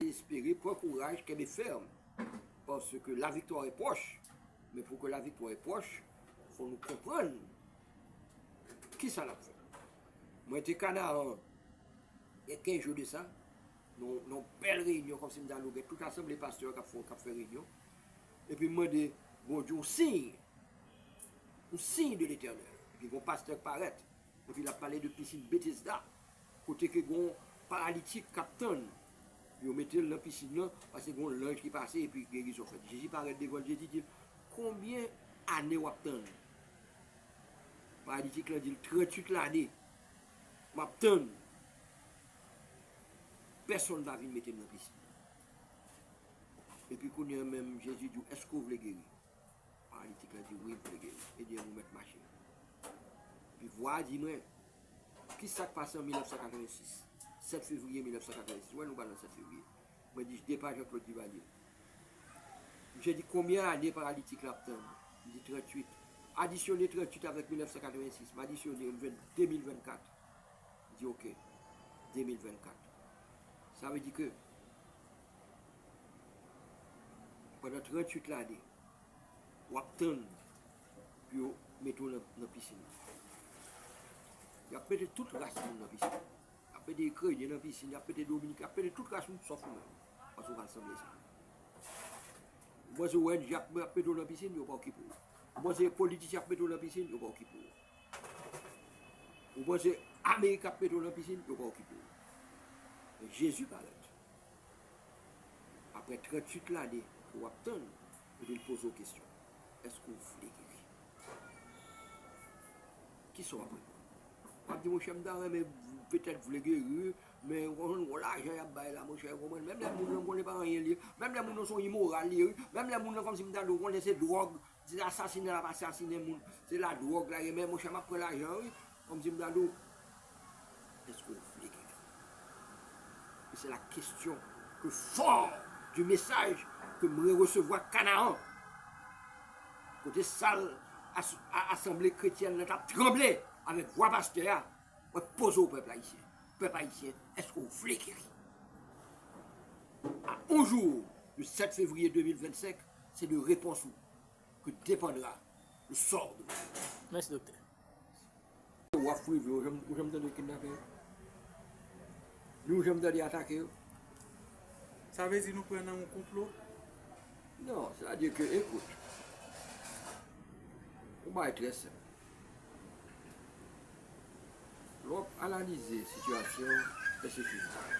Espere, pran kouraj, kenbe fèm, paske la viktwa e pwòch. Men pou ke la viktwa e pwòch, fò nou konprann ki sa nap fè. Mwen te Kanaran, gen 15 jou de sa, nan yon bèl reyinyon, kòm si m ta di w gen tout asanble pastè kap fè, kap fè reyinyon, epi m mande Bondye yon siy, yon siy de Letènèl, epi gen yon pastè k parèt, Epi lap pale de pisin Betesda kote ke gon paralitik kap tann yo metel nan pisin nan paske gon lanj ki pase epi gerizon fèt. Jezi parèt devanl Jezi dil konbyen ane wap tann? Paralitik lan dil 38 lane map tann pèsonn pa vin metem nan pisin nan. Epi kounya menm Jezi diw èske ou vle geri? Paralitik la di, Wi, Bondye, e byen mwen mèt mache. Epi vwa a di mwen, Ki sa k pase an 1986, 7 fevriye 1986? Ou wè nou pa nan 7 fevriye. Mwen di, Jde pa Jean-Claude Duvalier. Misye di, Konbyen ane paralitik la ap tann? M di, 38. Adisyone 38 avèk 1986. M adisyone, m jwenn 2024. Li di, Ok, 2024. Sa vle di ke. pandan 38 lane wap tann pou yo mete w nan pisin nan. Yap mete tout ras moun nan pisin nan. Yap mete ikrenyen nan pisin, yap mete dominiken, yap mete tout ras moun sòf ou menm. Paske ou pa sanble sa. Ou panse ONG ap mete w nan pisin, yo pa okipe w. Ou panse politisyen ap mete w nan pisin, yo pa okipe w. Ou panse ameriken ap mete w nan pisin, yo pa okipe w. Men Jezi parèt. Aprè 38 lane ke w ap tann, epi l poze w kesyon, Èske w vle geri? Ki sa w ap reponn? W ap di, Monchè, m ta renmen, petèt, vle geri, men w konn, gwo lajan y ap bay la, monchè, ou konprann. Menm lè moun lan m konnen se pa anyen l ye. Menm lè moun lan se yon imoral li ye, wi. Menm lè moun lan kòmsi m ta dwe konnen se dwòg. Di asasine lap asasine moun se la drog la ye men monchè map pran lajan an wi komsi m dadou eske ou vle gen fi e se la kestyon ke for di mesaj ke m reresevwa kanaan kote sal asanble kretyèn nan tap tranble avèk vwa pastè a mwen poze ou pèp ayisyen pèp ayisyen eske ou vle geri a on jou de 7 fevriye 2025 Se de repons ou ke depandra le sort de Martine. Mèsi Doktè. Yo wap prive yo janm ou janm tande yo kidnape yo? Ni ou janm tande atake yo? Sa vle di nou pran nan yon konplo? Non, se ta di ke ekout. Yon bagay trè senp. Lè wap analize sitiyasyon pèsekisyon.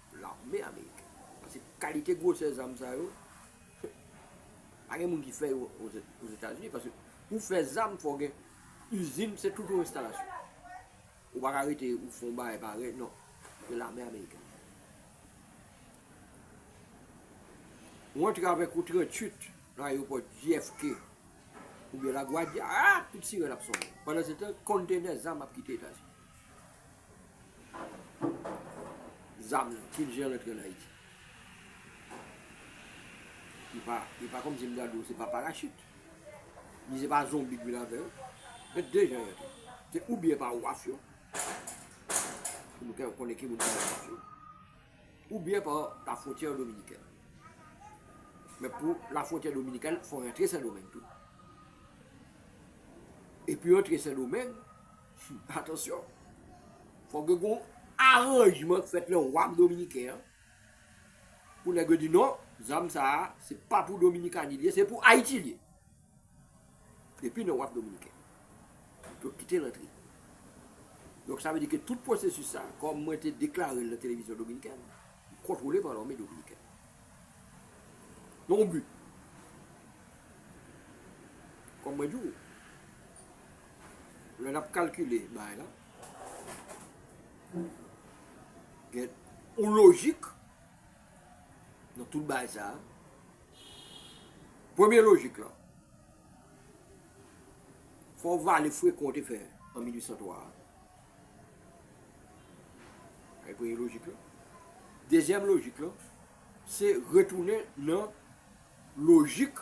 Lame ameriken. Paske kalite gwosè zam sa yo, pa gen moun ki fè yo ozetazini. Paske pou fè zam fò gen izin, se tout yon enstalasyon. Ou pa ka rete ou fon bagay pare, non. Se lame ameriken. Ou antre avèk yon 38 nan ayewopò JFK oubyen Lagwadya, aa, tout sirèn ap sonnen. Pandan se tan, konntenè zam ap kite Etazini. Zam yo tout jan rantre an Ayiti. E pa kòmsi m ta di w se pa parachit. Ni se pa zonbi k vin avè yo. Gen de jan y antre. Se oubyen pa waf yo, pou nou ka konnen ki moun ki nan waf yo, oubyen pa lafwontyè dominikèn. Men pou lafwontyè dominikèn, fò w rantre Sendomeng tou. E pou w rantre Sendomeng. Atansyon! Fòk gen yon aranjman k fèt nan wam dominiken an pou nèg yo di non, zam sa a se pa pou Dominikani li ye, se pou Ayiti li ye. Depi nan wam dominiken, yo kite l antre. Donk sa vle di ke tout pwosesis sa a, kòm mwen te deklare l nan televizyon dominikèn, li kontwole pa lame dominikèn. Nan yon bi. Kòm mwen di w. Lè nap kalkile bagay la, gen yon lojik nan tout bagay sa. Premye lojik la, fò w vale fre kon w te fè an 1803 a. Sa e premye lojik la. Dezyèm lojik la, se retounen nan lojik.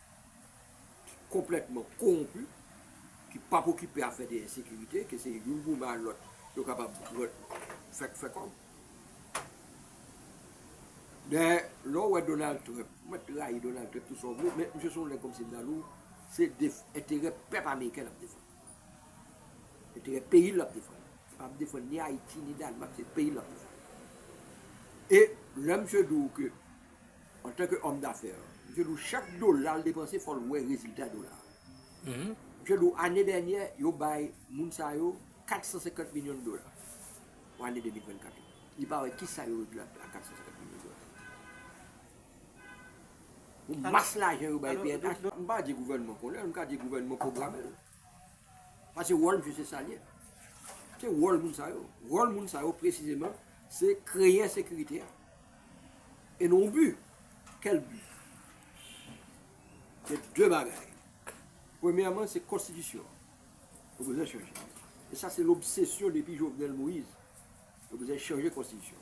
ki konplètman kowonpi, ki pap okipe afè de ensekirite, ke se youn goumen a lòt, yo kapab fè fè kòb. Men, lè w wè Donald Trump, mwen t rayi Donald Trump tou sa w vle, men misye se yon nèg kòmsi Andalou, se enterè pèp ameriken l ap defann. Enterè peyi l l ap defann. Li pap defann ni Ayiti, ni Danemark, se peyi l l ap defann. E, lè misye di w ke. Antanke homme d'affaires, Msye Lou chak dola l depanse fò l wè rezilta dola a. Msye Lou ane dènyè yo bay moun sa yo 450 milyon dola pou ane 2024 la. Li pa wè kisa yo regle ak 450 milyon dola sa yo. Pou mas lajan yo bay pnh, m pa di gouvènman konnen l, m ka di gouvènman pwograme l. Pase wòl misye se sal ye. Se wòl moun sa yo. Wòl moun sa yo presizeman se kreye ensekirite a. E nou bi. Kèl bi? Se de bagay. Premyèman se konstitisyon. Yo bezwen chanje. E sa se lobsesyon depi Jovenel Moïse. Yo bezwen chanje konstitisyon.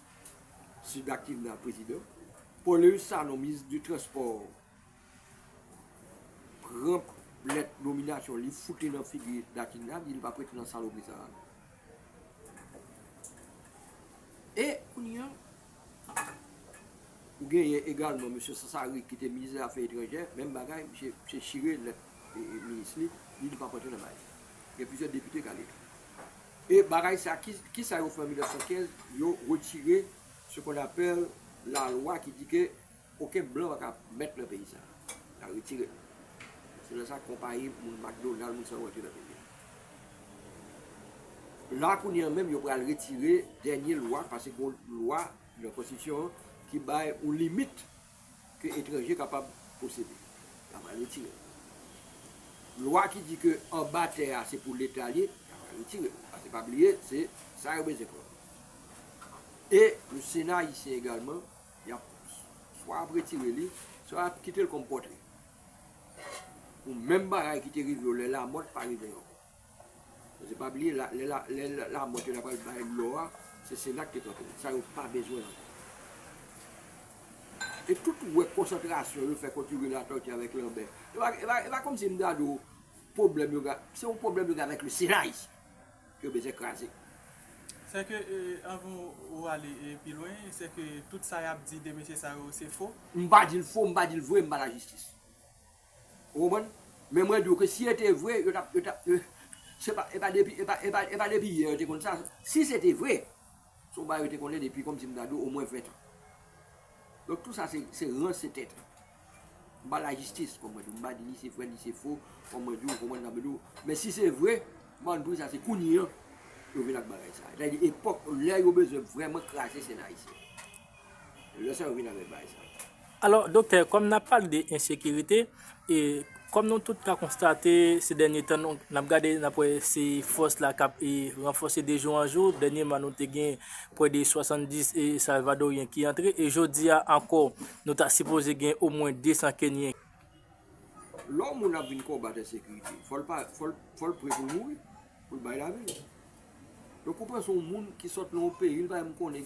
Sida ki nan prezidan. Pauleus Sanon minis de transpò pran lèt nominasyon li fout li nan figi Dakinda di li pap rete nan salopri sa a. E kounye an ou genyen egalman mesye Sassari ki te minis zafè etranjè menm bagay misye chire lèt minis li di li pap antre nan bagay sa. Gen plizyè depite k ale tou. E bagay sa ki ki sa yo fè an 1915 yo retire ce qu'on appelle la loi ki di ke oken blan paka mèt nan peyi sa ya retirel se lè sa konpayi moun McDonald moun sa yo rantre nan peyi a la kounye an menm yo pral retire dènye lwa paske gon lwa nan konstitisyon an ki bay yon limit ke etranje kapab posede. Y'a pral retire l. Lwa ki di ke anba tè a se pou leta l ye, y'a pral retire l. Pase pa bliye se sa yo bezwen pran. E pou sena ayisyen egalman, y'ap swa y'ap retire li, swa y'ap kite l kòm pòtre. Pou menm bagay ki te rive yo lè Lamòt pa rive yo ankò. Koze pa bliye la lè lè lamò te la pral bay lò a se sena ki te kanpe sa yo pa bezwen ankò e tout wè konsantrasyon yo fè kont youri latòti avèk lanbè epa epa kòmsi m gade w pwoblèm yo gen se yon pwoblèm yo gen avèk le sena ayisyen ke yo bezwen kraze. Sèke anvan ou ale pi lwen sèke tout sa yap di de mesye sa yo se fo? M pa di l fo m pa di l vre m pa lajistis. Ou konprann? Men mwen di w ke si e te vre, yo t ap, yo t ap, yo, se pa, e pa depi, e pa, e pa, e pa depi yè yo te konn sa. Si se te vre, se yon bagay yo te konnen depi, kòm si m ta di w, omwen ventan. Donk tou sa se, se ranse tèt. M pa lajistis, kòm mwen di w. M pa di ni se vre, ni se fo, kòm mwen di w, ou konprann sa m vle di w. Men si se vre, m pa konn poukisa se kounye an yo vin ak bagay sa. Sa vle di epòk, lè yo bezwen vrèman kraze Sena ayisyen. Lè sa yo vin avèk bagay sa. Alò, doktè, kòm n ap pale de ensekirite, e kòm nou tout ka konstate se dènye tan nou, n ap gade, n ap wè se fòs la k ap ranfòse de jou an jou, dènyeman nou te gen prè de 70 salvadoryen ki antre, e jodi a ankò nou ta sipoze gen omwen 200 kenyen. Lè yon moun ap vin konbat ensekirite, fò l pa, fò l pre pou l mouri, pou l bay lavi l. Donk ou pran se yon moun ki sot nan yon peyi, li pa menm konnen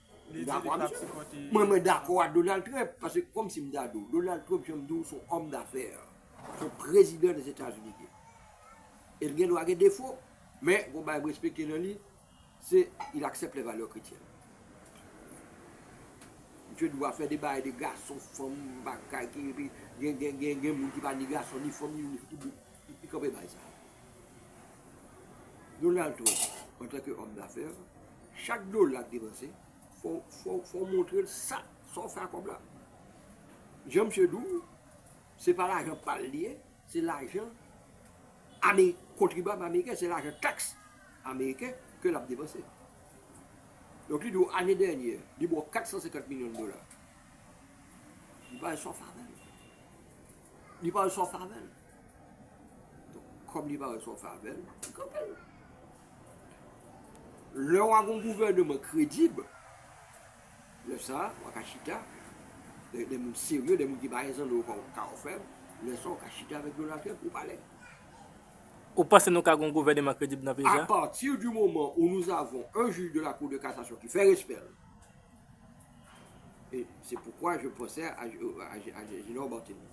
Li di li pap sipòte. Mwen mwen dakò a Donald Trump paske kòm si m ta di w Donald Trump janm di w son òm dafè son prezidan dezetazini li ye e l gen dwa gen defo men gon bagay m respekte nan li se il aksèp lè valè kretyèn misye dwa fè de bagay de gason fanm bagay ki gen gen gen gen moun ki pa ni gason ni fanm ni tout Li kanpe bay sa. Donald Trump, antanke hòm dafè, chak dola k depanse, fò w montre l sa w fè ak kòb la. Jan misye di w, se pa lajan pa l li ye, se lajan kontribyab ameriken, se lajan taks ameriken ke l ap depanse. Donk li di w ane dènye, li ba w 450 milyon dola. Li bay sa w fè avè l. Li pa wè sa w fè avè l. Donk, kòm li pa wè sa w fè avè l, li kanpe l. Lè w a gen yon gouvèneman kredib, lè sa a, w a ka chita, de moun serye, de moun ki pa gen zanno yo ka ofèb, lè sa a w ka chita avèk Donald Trump pou pale. Ou panse nou ka gen yon gouvèneman kredib nan peyi sa? A pati di moman ou nou avon un jij de la kou de kasasyon ki fè respè l. E se poukwa je pwosè a Junior Barthelmy.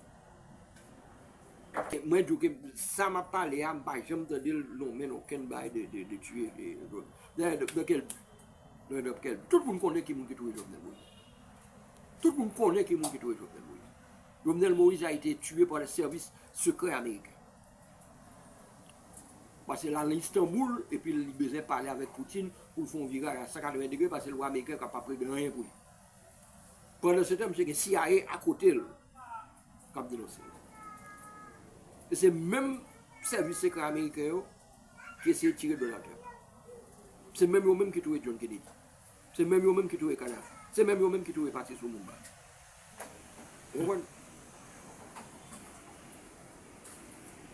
E mwen di w ke sa m ap pale a, m pa janm tande l lonmen nan okenn bagay de tiye Jovenel. Dayè, nan kèl bi? Nan e nan kèl bi? Tout moun konnen ki moun ki touye Jovenel Moïse. Tout moun konnen ki moun ki touye Jovenel Moïse. Jovenel Moïse a ete tiye pa le sèvis sekrè ameriken. paske lal Istanboul epil li bezwen pale avèk Poutine poul fè yon viray a 180 degre paske l wè ameriken ka pap regle anyen pou li pandan se tan misye gen CIA akotel kap denonse l e se menm sèvis sekrè ameriken yo ki eseye tire Donald Trump se menm yo menm ki touye John Kennedy. Se menm yo menm ki touye Kadhafi. Se menm yo menm ki touye Patrice Lumumba. Ou konprann?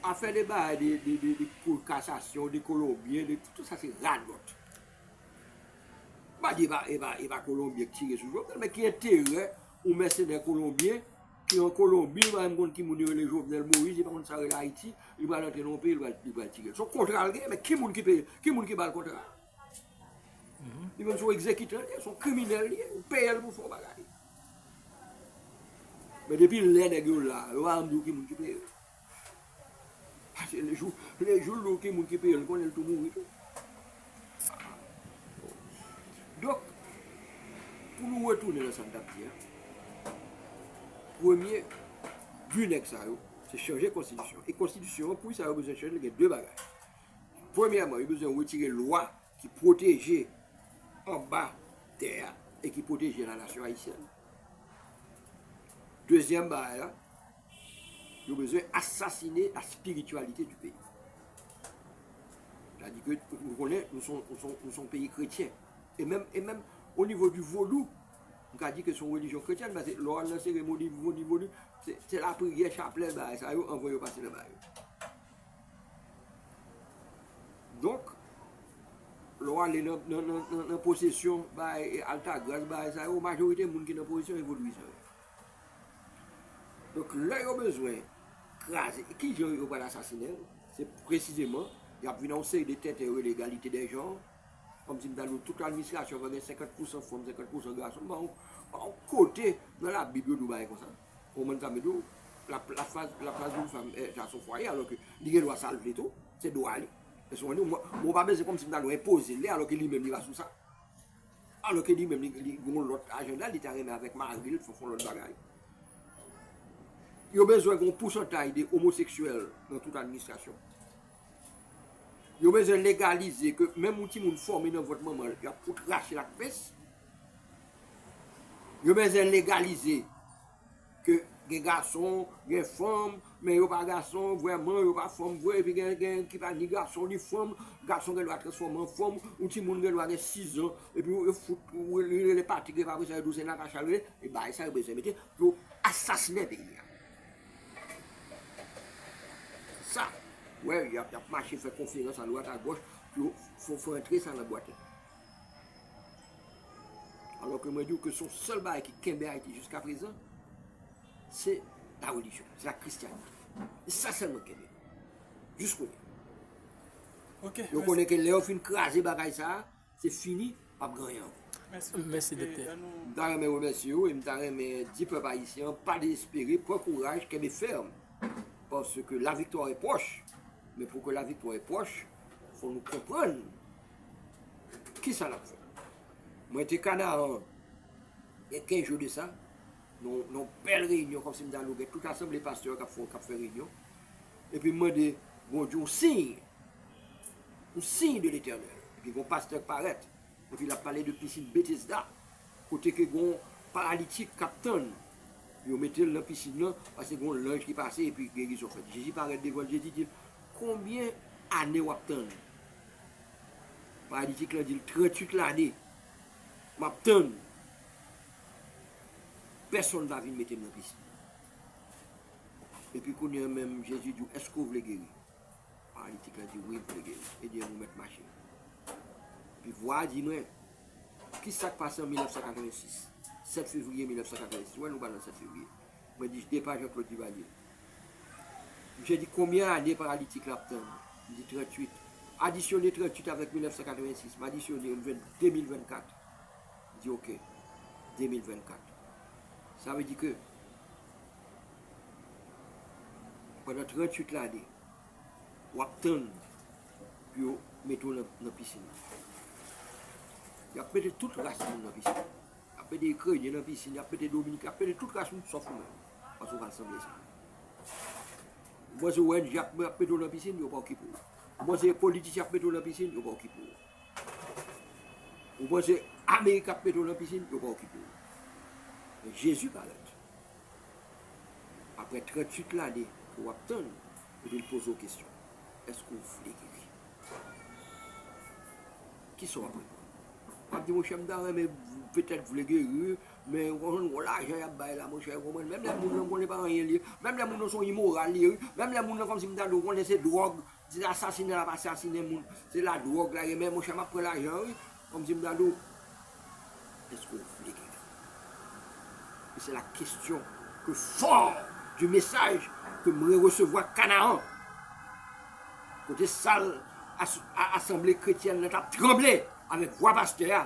Ap fè de bagay de de kou kasasyon, de kolonbyen, de tout sa se radòt. M pa di e pa kolonbyen ki tire sou Jovenel, men ki enterè yon mèsenè kolonbyen ki an Kolonbi, li pa menm konn ki moun yo rele Jovenel Moïse, li pa konn sa yo rele Ayiti, li pral antre nan yon peyi, li pral tire l. Se yon kontra l gen, men ki moun ki peye l? Ki moun ki ba l kontra a? Li menm se yon egzekitè li ye, se yon kriminèl li ye, ou peye l pou fo bagay. Men depi lè nèg yo la, yo pa janm di w ki moun ki peye yo. Pase le jou, le jou l di w ki moun ki peye l, li konnen l tou mouri tou. Donk, pou nou retounen nan sa n t ap di a, premye bi nèg sa yo, se chanje konstitisyon. E konstitisyon an, pou sa yo bezwen chanje l, gen de bagay. Premyèman, yo bezwen retire lwa ki pwoteje anba tè a e ki pwoteje lanasyon ayisyèn. Dezyèm bagay la, yo bezwen asasine la spirityalite di peyi. Sadi ke nou konnen nou se yon peyi kretyen. E menm o nivo di vodou, nou ka di ke se yon relijyon kretyèn paske lè w al nan seremoni vodou, se lapriyè, chaplèl, bagay sa yo anvan yo pase nan bagay yo. Donk, lè w ale nan posesyon bay Altagras, bay sa yo, majorite moun ki nan posesyon se vodouizan yo. Donk, lè yo bezwen kraze, ki jan yo pral asasinen l? Se presizeman, y ap vin ak yon seri de tenten yo rele egalite dè janr, kòm si m ta di w tout administrasyon fò gen 50 pousan fanm, 50 pousan gason, m ba w kote nan labib yo di w bagay konsa. Ou konprann sa m vle di w? L ap chwazi yon fanm sa son fwaye alò ke li gen dwa sa l vle tou. Se dwa li. Èske w konprann sa? Mwen mwen pa bezwen kòm si m ta dwe enpoze l li alò ke li menm li pa sou sa. Alò ke li menm li gen yon lòt ajanda li ta renmen avèk mari l fè yon lòt bagay. Yo bezwen gen yon pousantaj de omoseksyèl nan tout administrasyon. Yo bezwen legalize ke menm yon timoun fòme nan vant manman l y ap fout rache l ak pens. Yo bezwen legalize ke gen gason, gen fanm, men yo pa gason vrèman, yo pa fanm vre, epi gen ki pa ni gason ni fanm, gason gen dwa transfòme an fanm, yon timoun gen dwa gen 6 zan, epi yo fout li rele Patrick epi apresa yo di w se Natacha l rele, se bagay sa yo bezwen mete pou yo asasinen peyi a. Se sa, wè y ap mache fè konferans a dwat a gòch pou yo fè antre sa nan bwat yo. Alò ke mwen di ou ke son sèl bagay ki kenbe Ayiti jiska prezan, se la relijyon, se la kristyanite. Se sa sèlman ki kenbe. Jis kounye. Yo konnen ke lè yo fin kraze bagay sa, se fini, pap gen anyen ankò. Mèsi doktè. M ta renmen remèsye ou e m ta renmen di pèp ayisyen an pa dezespere, pran kouraj, kenbe fèm. Paske la viktwa e pwòch. Men pou ke la viktwa e pwòch, fò nou konprann. Kisa n ap fè? Mwen te Kanaran gen 15 jou de sa, nan yon bèl reyinyon, kòmsi m ta di w gen tout asanble pastè k ap fè reyinyon, epi m mande Bondye yon siy, yon siy de Letènèl. Epi gen yon pastè k parèt, epi l ap pale de pisin Betesda, kote ke gen yon paralitik k ap tann yo mete l nan pisin nan, pase gen yon lanj ki pase epi gerizon fèt. Jezi parèt devan l, Jezi di l, Konbyen ane w ap tann Palitik lan dil 38 lane map tann pèsonn pa vin metem nan prizon epi kounya menm jezi diw eske ou vle geri palitik lan di wi m vle geri ebyen nou mèt mache epi vwa a di mwen kisak pase an 1986 7 fevriye 1986 ou wè nou pa nan 7 fevriye mwen di jde pa Jean Claude Duvalier Misye di konbyen ane paralitik la ap tann? Li di 38. Adisyone 38 avèk 1986. M adisyone yo, m jwenn 2024. Li di ok, 2024. Sa vle di ke pandan 38 lane, w ap tann pou yo mete w nan pisin nan. Y ap mete tout ras moun nan pisin nan. Y ap mete ikrenyen nan pisin, y ap mete dominiken, y ap mete tout ras moun sòf ou menm. Antouka sanble sa. Mwen se ONG ap mete w nan pisin, yo pa okipe w. Ou panse politisyen ap mete w nan pisin, yo pa okipe w. Ou panse Amerik ap mete w nan pisin, yo pa okipe w. Men Jezi parèt. Aprè 38 lane ke w ap tann, epi l poze w kesyon, Èske w vle geri? Kisa w ap reponn? W ap di, Monchè, m ta renmen, petèt vle geri wi, Men yo konn gwo lajan yap bay la monchè ou konprann menm lè moun lan konnen pa anyen li ye menm lè moun lan se yon imoral li ye wi menm lè moun lan kòmsi m ta di ou konnen se dwòg se asasina lap asasinen moun se la dwòg la ye men monchè map pran lajan an wi kòmsi m ta di ou èske ou vle gen fanmi e se la kestyon ke fò di mesaj ke m reresevwa Kanaan kote sal asanble kretyèn nan tap tranble avèk vwa pastè a.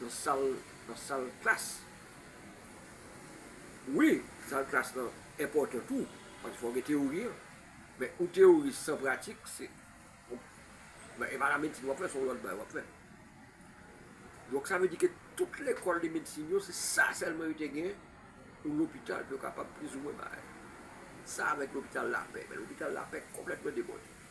Nan sal nan sal klas. Wi sal klas lan enpòtan tou paske fòw gen teyori an men yon teyori san pratik se e pa la medsin wap fè son lòt bagay wap fè donk sa vle di ke tout lekòl de medsin yo se sa sèlman yo te gen yon lopital pou yo kapab plizoumwen bay sa avèk lopital lapè men lopital lapè konplètman debòde.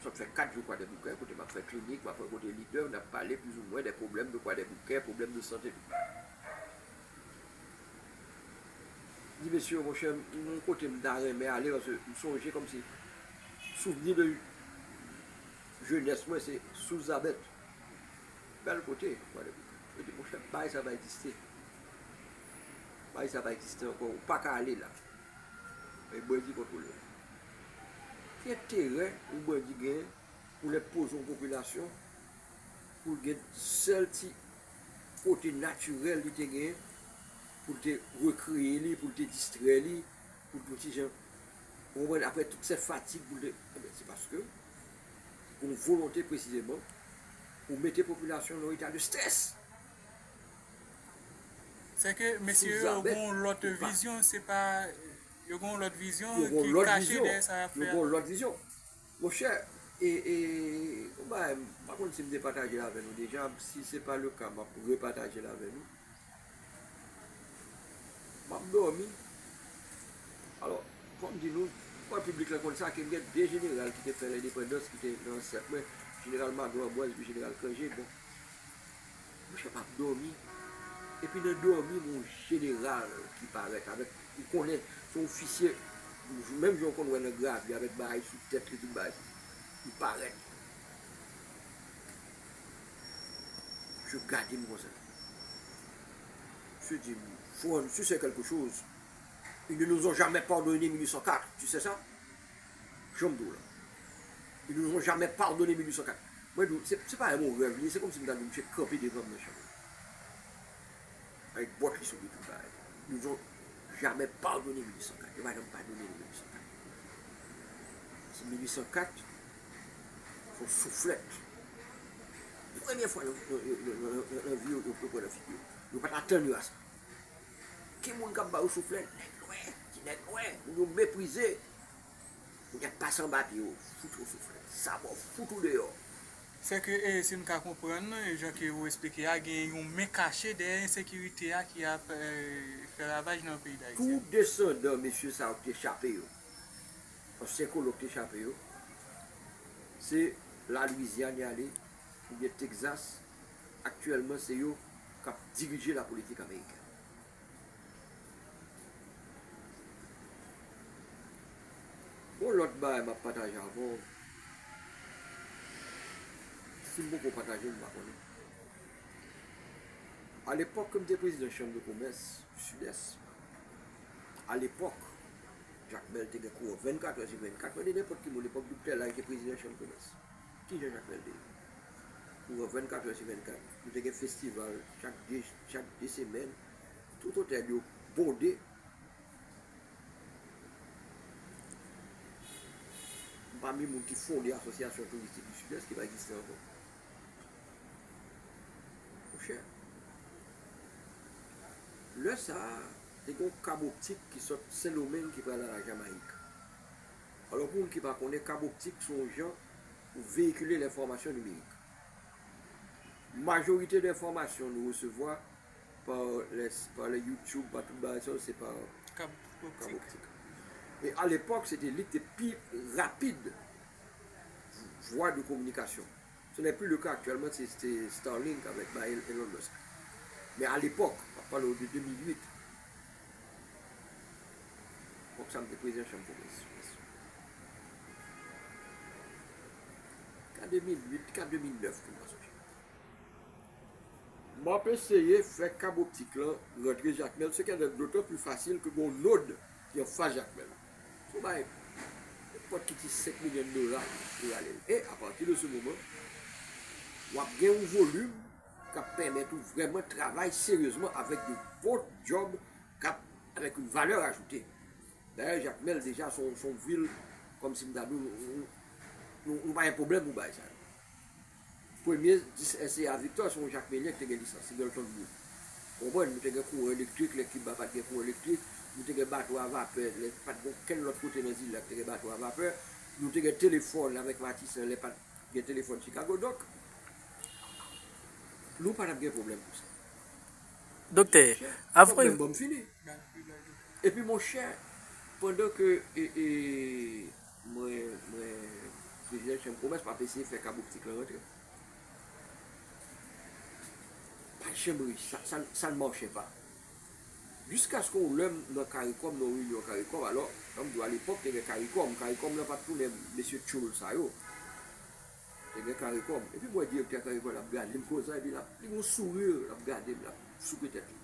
Sa ap fè 4 jou Kwadèboukè, kote m ap fè klinik, m ap rankontre lidè, n ap pale plizoumwen dè pwoblèm de Kwadèboukè, pwoblèm de sante tout. M di mesye yo, monchè, m gen yon kote m ta renmen ale paske m sonje kòmsi souvni de jenès mwen se Sous Zabèt. Bèl kote Kwadèboukè. Yo di, monchè, baay sa pa egziste. Baay sa pa egziste ankò. Ou pa ka ale la. Mwen di kontwole. Ki enterè yon bandi gen pou lè poze yon popilasyon pou l gen sèl ti kote natirèl li te gen pou l te rekreye li, pou l te distrè li, pou l te yon ti jan, ou konprann, aprè tout sè fatig pou l te, enben se paske se pou yon volonte presizeman pou mete popilasyon nan yon eta de strès. Sèke mesye yo gen yon lòt vizyon, se pa. Yo gen yon lòt vizyon ki kache dèyè sa yap fè a. Yo gen yon lòt vizyon. Monchè, yon bagay, m pa konn si m te pataje l avè nou deja, si se pa le ka m ap repataje l avè nou. M ap dòmi, alò, fò m di nou, m kwè piblik la konn sa, ke m gen 2 jeneral ki te fè lendepandans, ki te nan ansèt mwen, jeneral Maglo Anbwaz epi jeneral Kranje, bon. Mouche pap domi epi nan domi gon jeneral ki paret avek ou konnen son ofisye menm jan ou konn wè nan gravi avek bagay sou tet li tout bagay li paret misye gadem konsa misye dim fran tu se kelke choz une nous ont jamais pardonne 1804 tu se sa. Janm di w lan. E nou van jamè padone 1804. Mwen di w, se pa yon rèv li ye, se kòmsi m ta di w misye kanpe devan m nan chanm nan. Avèk bòt li sou li tout bagay. Nou van jamè padone 1804. Yo pa janm padone nou 1804. Paske 1804, se yon souflèt. Premye fwa nan vi yo, yo pran nan figi yo. Yo pa t atann yo a sa. Ki moun k ap ba yo souflèt? Nèg nwè, ti nèg nwè. Moun yo meprize. Ou tap pase anba pye yo fout ou soufri sabò fout ou deyò. Sè ke e si m ka konprann e jan ke ou esplike a gen yon men kache dèyè ensekirite a ki ap e fè ravaj nan peyi Dayiti a. Tout desandan mesye sa yo ki te chape yo, ansyen kolon ki te chape yo, se la Louisiane y ale oubyen Texas, aktyèlman se yo kap dirije la politik amerikèn. Gon lòt bagay map pataje avèw sim poko patajel mpa konnen alepòk kem te prezidan chanm de komès sidès alepòk Jakmèl te gen kouwè 24 è sou 24 mande nenpòt ki moun epòk doktè lay te prezidan chanm komès. Ki jan Jacques Lèl te ye? Kouran 24 è sou 24, nou te gen festival chak 2 chak 2 semèn, tout otèl yo bonde. M pami moun ki fonde Asosyasyon Touristik di Sidès ki pa egziste ankò. Monchè, lè sa a, te gen yon kab optik ki sot Sendomeng ki pral a la Jamayik. Alò pou moun ki pa konnen, kab optik se yon jan pou veyikile lenfòmasyon nimerik. Majorite de enfòmasyon nou resevwa pa pa lè youtube, pa tout bagay sa yo se pa kab optik. E alepòk se te li ki te pi rapid vwa de kominikasyon. Ce n'est plus le cas actuellement se te Starlink avèk bay Elon Musk men a lepòk map pale w de 2008 epòk sa m te prezidan chanm komès yes ka 2008 ka 2009 tou m pa sonje. Map eseye fè kab optik lan rantre Jakmèl sekèdèl dotan pli fasil ke gon nod Yon fwa Jakmèl sou bay nenpòt ki ti 5 milyon dola pou rale l e apati de se moman wap gen yon volim kap pèmèt ou vrèman travay seryezman avèk yon bon djòb kap avèk yon valè ajoute. Dayè Jakmèl deja se yon vil kòm si m ta di w nou pa gen pwoblèm pou bagay sa yo. Premye 10 SCA Victor se yon jakmelyen ki te gen lisans Singleton Group. Ou konprann? Nou te gen kouran elektrik lè Kiba pa t gen kouran elektrik. Nou te gen bato a vapè lè pa t gen okenn lòt kote nan zile a ki te gen bato a vapè. Nou te gen telefòn avèk Matisan lè pa t gen telefòn Chikago. Donk, nou pa t ap gen pwoblèm pou sa. Doktè, avan. Fòk menm ban m fini. Epi monchè, pandan ke. Mwen mwen prezidan chanm komès map eseye fè kab optik lan rantre. Pat janm reyisi sa sa sa n machè pa. Jiskaske yon lè m nan caricom nan yon reyinyon caricom alò an m di w alepòk te gen caricom caricom lan pat tounen mesye tchoul sa yo te gen caricom epi m wè direktè caricom lan ap gade m konsa epi lap li gen yon sourire lap gade m lap souke tèt li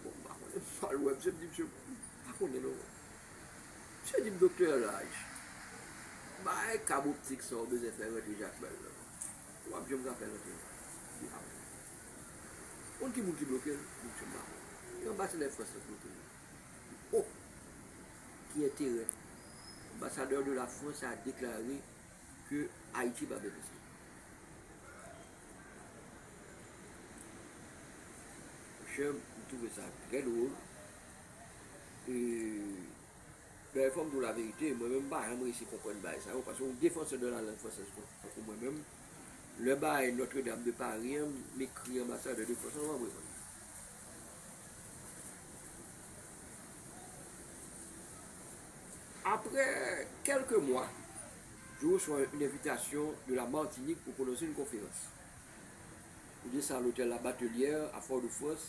bon m pa konnen m pa l wè misye m di misye m pa konnen non Misye di Doktè Raj, bay kab optik sa ou bezwen fè rantre Jakmèl nan. Ou pap janm ka fè l rantre nan bihar nan. Konn ki moun ki bloke l? Moun Chanm Mapè. E anbasadè Frans lan k bloke l la? O! Ki enterè! Anbasadè de la Frans a deklare ke Ayiti pa benefisye. Monchè, m twouve sa trè dwol. Bèy fòm diw la verite mwen menm pa janm resi konprann bagay sa yo paske yon defansè de la lang fransèz tankou mwen menm lè bagay notre dame de Paris an m ekri anbasadè de France an wap reponn mwen. Aprè kèlke mwa je reswa yn envitasyon de la Martinique pou pwononse yn konferans pou de sa lotèl la Batelière a Fort de France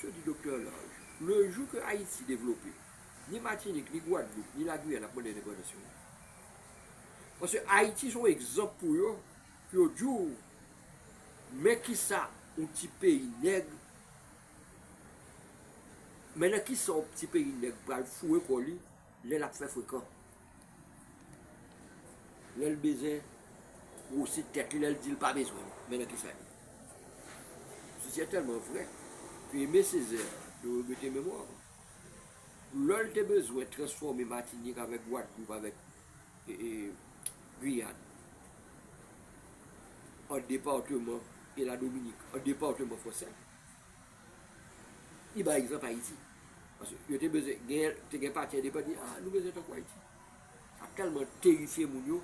Misye di Doktè Laj, le jou ke Ayiti devlope, ni Matinik, ni Gwadloup, ni La Guyane ap mande endepandans yo. Paske Ayiti son egzanp pou yo, pou yo di w, men kisa yon ti peyi nèg, men nan kisa yon ti peyi nèg pral foure kò li, lè l ap fè frekan. Lè l bezwen gwosi tèt li, lè l di l pa bezwen l, men nan ki sa l ye. Si se tèlman vrè ke Aimé Césaire te regrete memwa l, lò l te bezwen transfòme Matinik avèk Gwadloup avèk Guyane an departeman e Ladominik an departeman fransè, Li bay egzanp Ayiti. Paske yo te bezwen, gen, te gen pati endepandan di, ah nou bezwen tankou Ayiti. Sa tèlman terifye moun yo,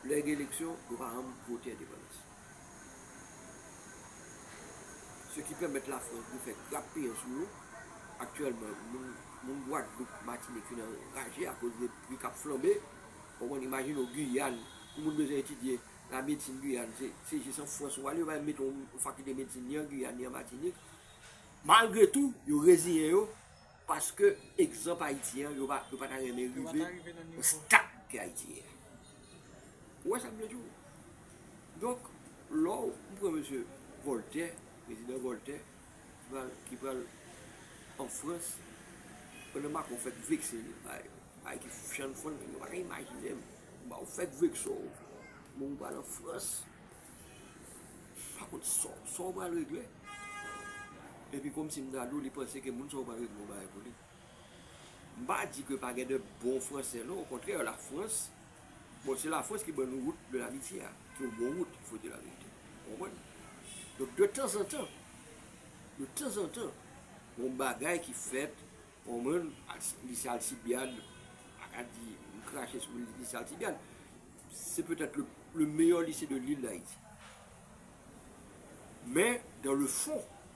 lè gen eleksyon, yo pa janm vote endepandans. Se ki pèmèt Lafrans vin fè grap piyan sou yo. Aktyèlman, moun, moun Gwadloup, Matinik fin anraje akoz de pri k ap flanbe. Ou konprann? Imajine w Guyane, pou moun bezwen etidye La medsin Guyane se se jis an Frans ou ale yo pa janm mete yon fakilte medsin ni an Guyane ni an Matinik. Malgre tou yo reziyen yo paske egzanp Ayiti an yo pa yo pa ta renmen rive nan stad ke Ayiti ye a. Ou wè sa m vle di w? Donk lè w m pran mesye Voltè, prezidan Voltè. ki pral an frans pandan macron fèk vekse li bay bay ki chan fòn li yo pa ka imajinem ba ou fèk vekse w bon ou pral an frans pa kont sa w pral regle epi kòmsi m ta di w li panse ke moun sa w pral regle w bay pou li. M pa di ke pa gen de bon fransè non, okontrè la frans, bon se la frans ki ban nou wout de lamitye a, ki yon bon wout fo di la verite, ou konprann? Donk de tanzantan, de tanzantan, yon bagay ki fèt, ou konprann, li se Alcibiade, m pa ka di, m krache sou li li se Alcibiade, se petèt le meyè lise de l'ile d'Haiti. Men, dan le fon.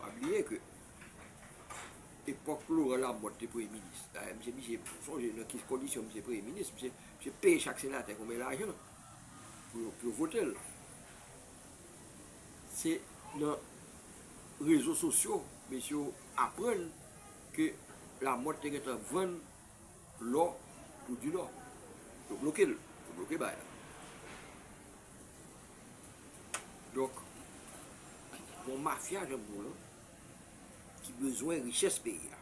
Pa bliye ke epòk Laurent Lamothe te premye minis, dayè misye misye sonje nan ki kondisyon misye premye minis, misye te peye chak senatè konbyen lajan pou yo vote l. Se nan rezo sosyo mesye yo aprann ke Lamothe te gen tan vann lò pou Dinò. Yo bloke l, yo bloke bay la. Donk, yon mafya jan mwen an, ki bezwen richès peyi a.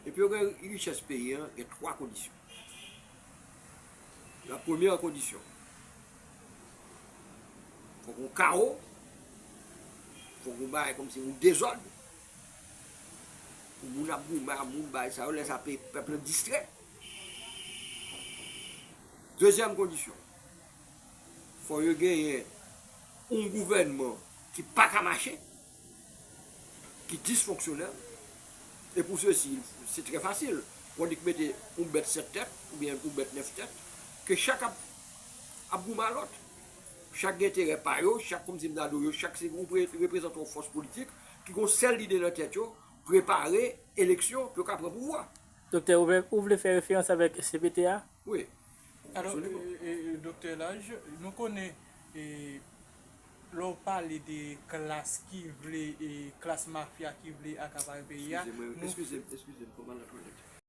E pou yo gen richès peyi an, gen 3 kondisyon. La premyè kondisyon, fòk yon kawo, fòk yon bagay kòmsi yon dezòd. Moun ap goumen ak moun bay sa yo lè sa peyi pèp lan distrè. Dezyèm kondisyon, fò yo genyen yon gouvènman ki pa ka mache, ki disfonksyonèl, e pou sesi, se trè fasil, pou annik mete yon bèt sèt tèt, ou byen yon bèt nèf tèt, ke chak ap goumen ak lòt, chak gen enterè pa yo, chak kòmsi mnadou yo, chak se yon reprezantan yon fòs politik, ki gon sèl lide nan tèt yo, prepare eleksyon pou yo ka pran pouvwa. Doktè, ou vle fè referans avèk cpt a? Wi. Alò, Doktè Lalge, nou konnen lè w pale de klas ki vle, klas mafya ki vle akapare peyi a, nou. Eskize m, eskize m, eskize m, konpa la twalèt.